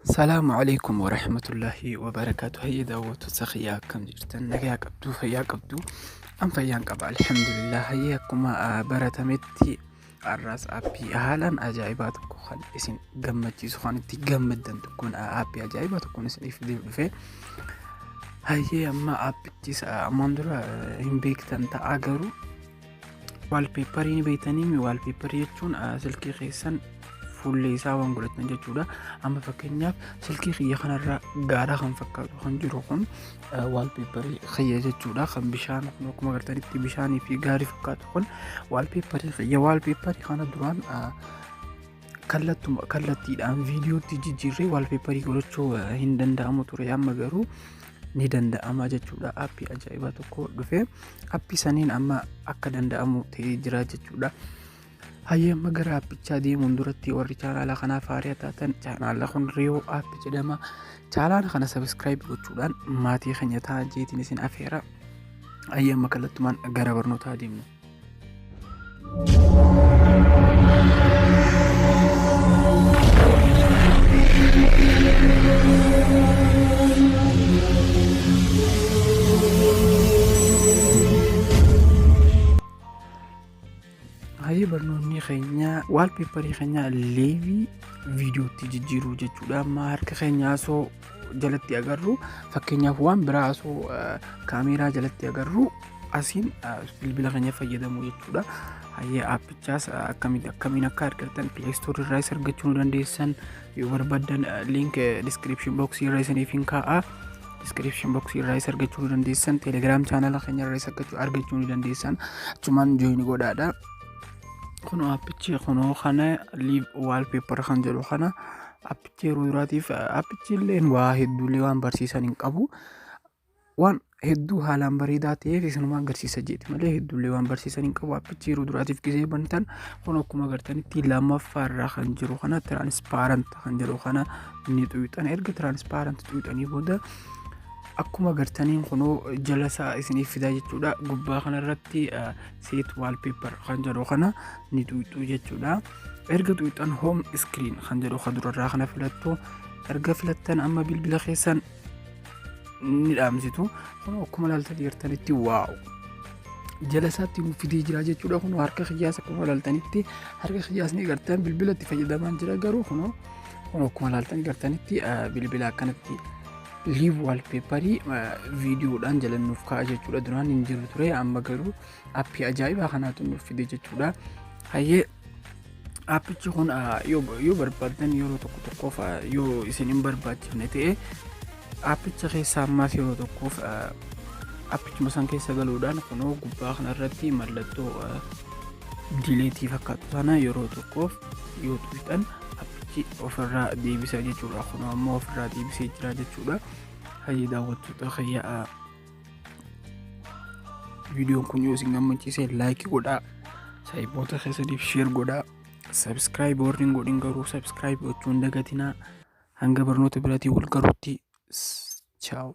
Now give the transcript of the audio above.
Salaamu alaikum wa rahmatullahi wa barakaatu. Hayya daawwattoota kiyyaa akkam jirtan? Nagaa qabdu, fayyaa qabdu. An fayyaan qaba alhamdulillah. Hayya akkuma baratametti Har'aas appii haalaan ajaa'ibaa tokko kan isin gammachiisu kan itti gammaddan tokkoon appii ajaa'ibaa tokkoon isiniif dhufee hayyee amma appichis ammaan dura hin beektan ta'a garuu waalpeepparii ni beektanii mi waalpeepparii jechuun silkii keessan fuullee isaa waan godhatan jechuudha amma fakkeenyaaf silkii kiyya kanarra gaara kan fakkaatu kan jiru kun waalpeeparii kiyya jechuudha kan bishaan kun akkuma agartanitti bishaanii fi gaarii fakkaatu kun waalpeeparii kiyya waalpeeparii kana duraan kallattuma kallattiidhaan viidiyootti jijjiirree waalpeeparii godhachuu hin danda'amu ture amma garuu ni danda'ama jechuudha appii ajaa'ibaa tokko dhufe appii saniin amma akka danda'amu ta'ee jira jechuudha. Hayyee amma gara appichaa deemuun duratti warri chaanaala kanaaf haaraa taatan chaanaala kun riyoo app jedhama. Chaanaala kana sabiskiraayib gochuudhaan maatii keenya ta'aa jeetiin isin afeera. Hayyee amma kallattumaan gara barnootaa deemna. Hayyee barnoonni keenya waalpeeparii keenya leevii viidiyootti jijjiiruu jechuudha. Amma harka keenya osoo jalatti agarru fakkeenyaaf waan biraa osoo kaameeraa jalatti agarru asiin bilbila keenya fayyadamu jechuudha. Hayyee aappichaas akkamiin akka argattan pileestoorii irraas argachuu ni dandeessan. yoo barbaddan link description box irra isiniif hin kaa'a description box irraa isa argachuu ni dandeessan telegram channel keenya irraa isa argachuu argachuu ni dandeessan achumaan join godhaadha kunoo appichi kunoo kana live wallpaper kan jedhu kana appichi yeroo duraatiif appichi illee waa hedduulee waan barsiisan hin qabu waan hedduu haalaan bareedaa ta'eef isinumaan garsiisa jeeti malee hedduullee waan barsiisan hin qabu appichi yeroo duraatiif gisee bantan kun akkuma agartanitti lammaffaa irraa kan jiru kana tiraanispaarant kan jedhu kana ni xuyxan erga tiraanispaarant xuyxanii booda akkuma agartaniin kunoo jalasaa isiniif fidaa jechuudha gubbaa kanarratti seet waalpeepar kan jedhu kana ni xuyxuu jechuudha erga xuyxan hoom iskiriin kan jedhu kan durarraa kana filattu erga filattan amma bilbila keessan ni dhaamsitu kun akkuma ilaalta jirtanitti waa'u jala isaatti nu fidee jira jechuudha kun harka kiyyaas akkuma ilaaltanitti harka kiyyaas ni gartan bilbila itti fayyadamaan jira garuu kun kun akkuma ilaaltan gartanitti bilbila akkanatti liiv waalpeeparii viidiyoodhaan jala nuuf ka'a jechuudha duraan hin jiru ture amma garuu appii ajaa'ibaa kanaatu nuuf fide jechuudha hayyee Aappichi kun ah, yoo yoo barbaaddan yeroo tokko tokkoof ah, yoo isin hin barbaachifne ta'e aappicha keessa ammaas yeroo tokkoof ah, aappichuma san keessa galuudhaan kunoo gubbaa kanarratti mallattoo ah, dileetii fakkaatu sana yeroo tokkoof yoo tuqxan aappichi ofirraa deebisa jechuudha. Kunoo ammoo ofirraa deebisee jira jechuudha. Hayyii daawwattoota kiyya ah, viidiyoon kun yoo isin gammachiise laayikii godhaa saayiboota keessaniif sheer godhaa sabskiraayib warri hin godhin garuu sabskiraayib gochuun dagatinaa hanga barnoota biratii wal garutti chaawu.